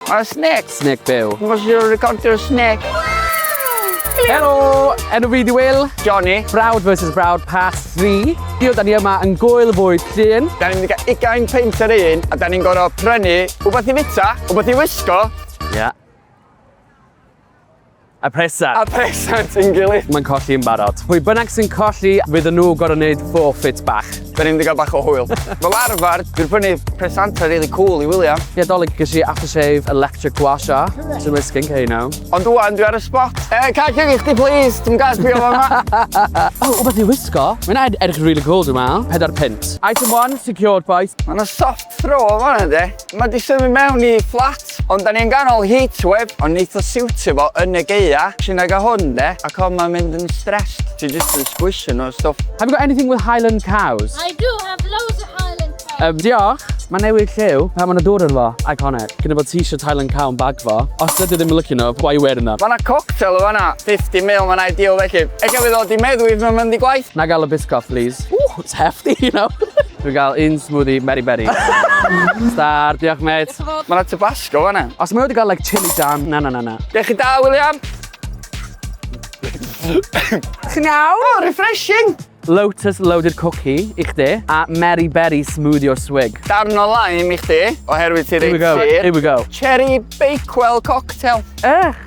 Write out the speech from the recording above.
Mae snec. Snec byw. Mae siwr recordio snec. Helo, enw fi di Will. Johnny. Brawd versus Brawd Part 3. Dio, da ni yma yn gwyl fwyd llun. Da ni'n cael ugain peint ar un, a da ni'n gorau prynu wbeth i fita, wbeth i wisgo. Ia. Yeah. A presa. A presa ti'n gilydd. Mae'n colli yn barod. Pwy bynnag sy'n colli, fydd nhw gorau wneud forfeit bach. Da ni'n digon bach o hwyl. Fel arfer, dwi'n prynu presanta really cool i William. Ie, dolyg ges i aftershave electric washa. Dwi'n mynd skin care now. Ond dwi'n dwi ar y spot. E, eh, cael cyn i chdi, please. Dwi'n gael sbio fan ma. o, o beth i wisgo. Mae'n ed edrych really cool, dwi'n meddwl. Pedair pint. Item one, secured, boys. Mae'n soft throw o fanna, de. Mae di symud mewn i fflat, ond da ni yn ganol heatwave, ond neith o siwtio fo yn y gaea. Ti nag a hwn de, ac hon mae'n mynd yn stressed. Ti jyst yn squisio nhw a stwff. Have you got anything with Highland cows? I do have loads of Highland cows. Um, diolch. Mae newid lliw pan mae'n dŵr yn fo, iconic. Cyn bod t-shirt Highland Cow yn bag fo. Os dydw ddim yn lycio nhw, why you wearing them? Mae yna cocktail o fanna, 50 mil, mae'n ideal felly. Ella fydd o di meddwi, mae'n mynd i gwaith. Na gael y biscoff, please. Ooh, it's hefty, you know. Dwi'n gael un smoothie Meri Beri. Star, diolch mate. Mae yna tabasco fanna. Os mae wedi cael like chili jam, na na na na. Dech chi da, William? Chi'n iawn? Oh, refreshing! Lotus Loaded Cookie i chdi a Meri Beri Smoothie o Swig. Darn o lime i chdi, oherwydd ti'n reit sir. Here we go. Cherry Bakewell Cocktail. Ech!